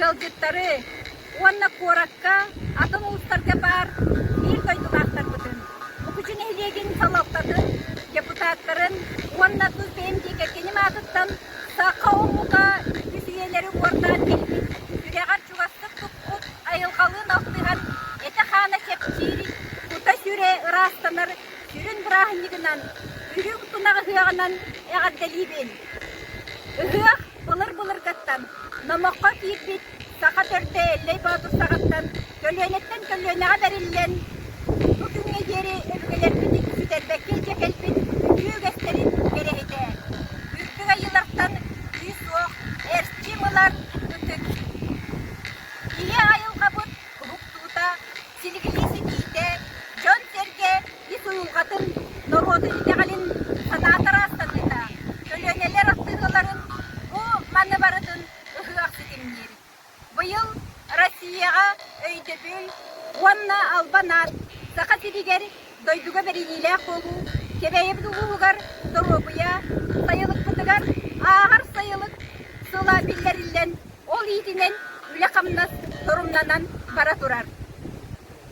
ыалдьыттары уонна куоракка атын улуустарга баар биир дойдулаахтарбытын, Мукучу нэһилиэгин салалтатын депутаттарын уонна тус бэйэм диэки киним аатыттан саха омука иккис үйэлэри уордаан кэлбит, сүрэҕэр-чугастык туппут айылҕалыын алтыһан этэ-хаана кэпсиир, кута-сүрэ ыраастанар сүрүн бырааһынньыгынан, үрүҥ тунах ыһыаҕынан эҕэрдэлиибин! Ыһыах былыр-былыргыттан номоххо киирбит саха төрдө Эллэй Боотур саҕаттан көлүөнэттэн көлүөнэҕэ бэриллэн бу күҥҥэ диэри өбүгэлэрбит бүтэрбэккэ илдьэ кэлбит үтүө үгэстэрин кэрэһитэ, үрдүк айыылартан күүс суох эрчим ылар ытык. Ийэ айылҕабыт уһуктуута, силигилии ситиитэ, дьон-сэргэ Ити дулҕатын норуоту итэҕэлин санаатара астынныыта көлүөнэлэр ахтыылаларын бу маны барытын ыһыах ситимниир. Быйыл Россияҕа өйдөбүл уонна Албан аат Саха сиригэр дойдуга бэриниилээх буолуу Кэбээйибит улууһугар доруобуйа сайылыкпытыгар ааҕар сайылык сыла биллэриллэн, ол иитинэн үлэ-хамнас торумнанан бара турар.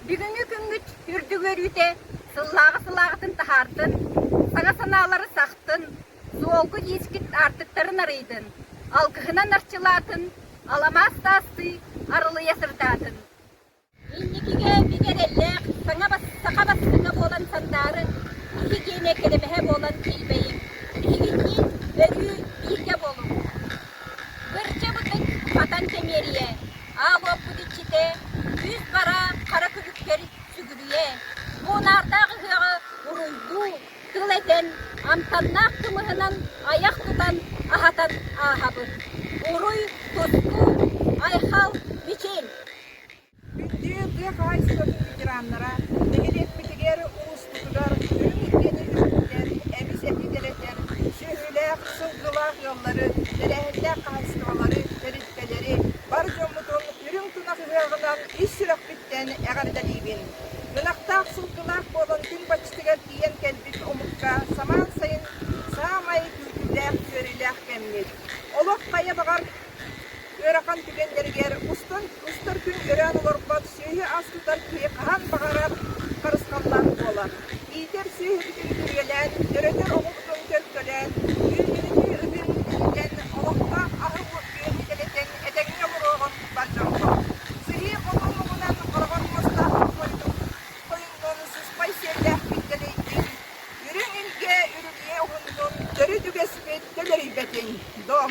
Бүгүҥҥү күммүт үрдүк үөрүүтэ сыллааҕы-сыллааҕытын таһаартын, саҥа санаалары сахтын, суолгу иискит аартыктарын арыйдын, алгыһынан арчылаатын, аламаас таастыы арылыйа сырдаатын! Инникигэ бигэ эрэллээх саҥа бастыҥа буолан сандаары киһи киэнэ кэрэбэһэ буолан тилбэйиҥ, биһигинниин өрүү бииргэ буолуҥ! Бырдьа бытык, хатан кэмиэрийэ, Аабыппыт иччитэ, сүүс бараан хара күлүккэр сүгүрүйэ, буунаардаах ыһыаҕы уруйдуу, тыл этэн, амтаннаах кымыһынан айах тутан, аһатан ааһабыт. Уруй, тустуу, айхал, мичил! Бүлдүү тыа хаһаайыстыбатын ветераннара нэһилиэкпитигэр улуус туттар, бириискэни үҥкүтэр, эбис-эти дэлэтэр, сүөһүлээх, сылгылаах ыаллары, тэрээһиннээх хаһаайыстыбалары, тэрилтэлэри бар дьоммутун үрүҥ тунах ыһыаҕынан ис сүрэхпиттэн эҕэрдэлиибин! Ынахтаах, сылгылаах буолан күн баччытыгар тиийэн кэлбит омукка самаан сайын саамай күүтүүлээх-үөрүүлээх кэммит. Олох хайа баҕар ыарахан түгэннэригэр устун устар күн өрөөн олорбот сүөһү-ас тутар киһи хаһан баҕарар харысхаллаах буолар. Иитэр сүөһүбүтүн күрүөлээн, төрөтөр оҕобутун төлкөлөөн, үөргэнитии ытын бүтүннэн олохтоох аһы-үөлү тэлэтэн этэҥҥэ олоруоҕун болдьоммот. Сыһыы хотун-уһунан хороҕор муостаах хойутун хойуннун сыспай сиэллээх киттэлэйдин, үрүҥ илгэ үрүлүйэ уһуннун төрүт үгэспит төлөйбэтин дом.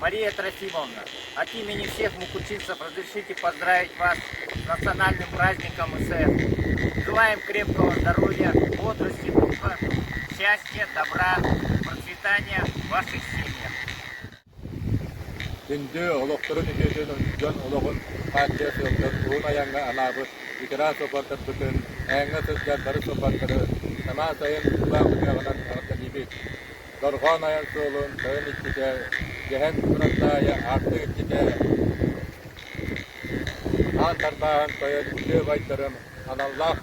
Мария Трофимовна, от имени всех мукучинцев разрешите поздравить вас с национальным праздником СЭХ. Желаем крепкого здоровья, бодрости, духа, счастья, добра, процветания в ваших семьях. Күндү олохторун үтүөтүн дьон олоҕун хааччыйа сылдьар уһун айаҥҥа анаабыт ветеран суоппардарбытын, ээҥҥэ сылдьар бары суоппардары саҥа сайын тыллаах ырыаҕынан эҕэрдэлиибит! дорҕоон айар суолун тойон иччитэ Дьэһэн Кураттаайа аартык иччитэ аан тарбааһын тойон Күлүө-Байдарым аналлаах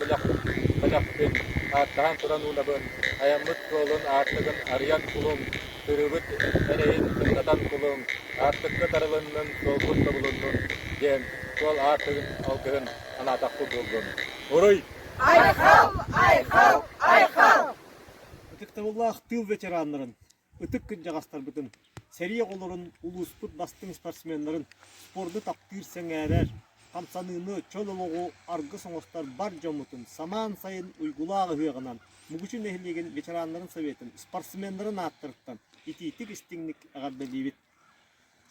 бэлэхпин ааттаһан туран уунабын айаммыт суолун аартыгын арыйан кулуҥ сырыыбыт эрэйин кыттатан кулуҥ аартыкка тарылыннын суолбут тобулуннун диэн суол аартыгын алгыһын анаатахпыт буоллун уруй айхал айхал айхал Ытыктабыллаах тыыл ветераннарын, ытык кырдьаҕастарбытын, сэрии оҕолорун, улууспут бастыҥ спортсменнарын спорду таптыыр, сэҥээрэр, хамсаныыны, чөл олоҕу аргыс оҥостор бар дьоммутун самаан сайын уйгулаах ыһыаҕынан Мугучу нэһилиэгин ветераннарын советын спортсменнарын ааттарыттан итиитик истиҥник эҕэрдэлиибит!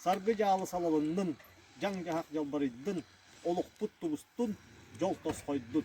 Саргы дьаалы салалыннын, дьаҥ-дьаһах дьалбарыйдын, олохпут тубустун, дьол тосхойдун!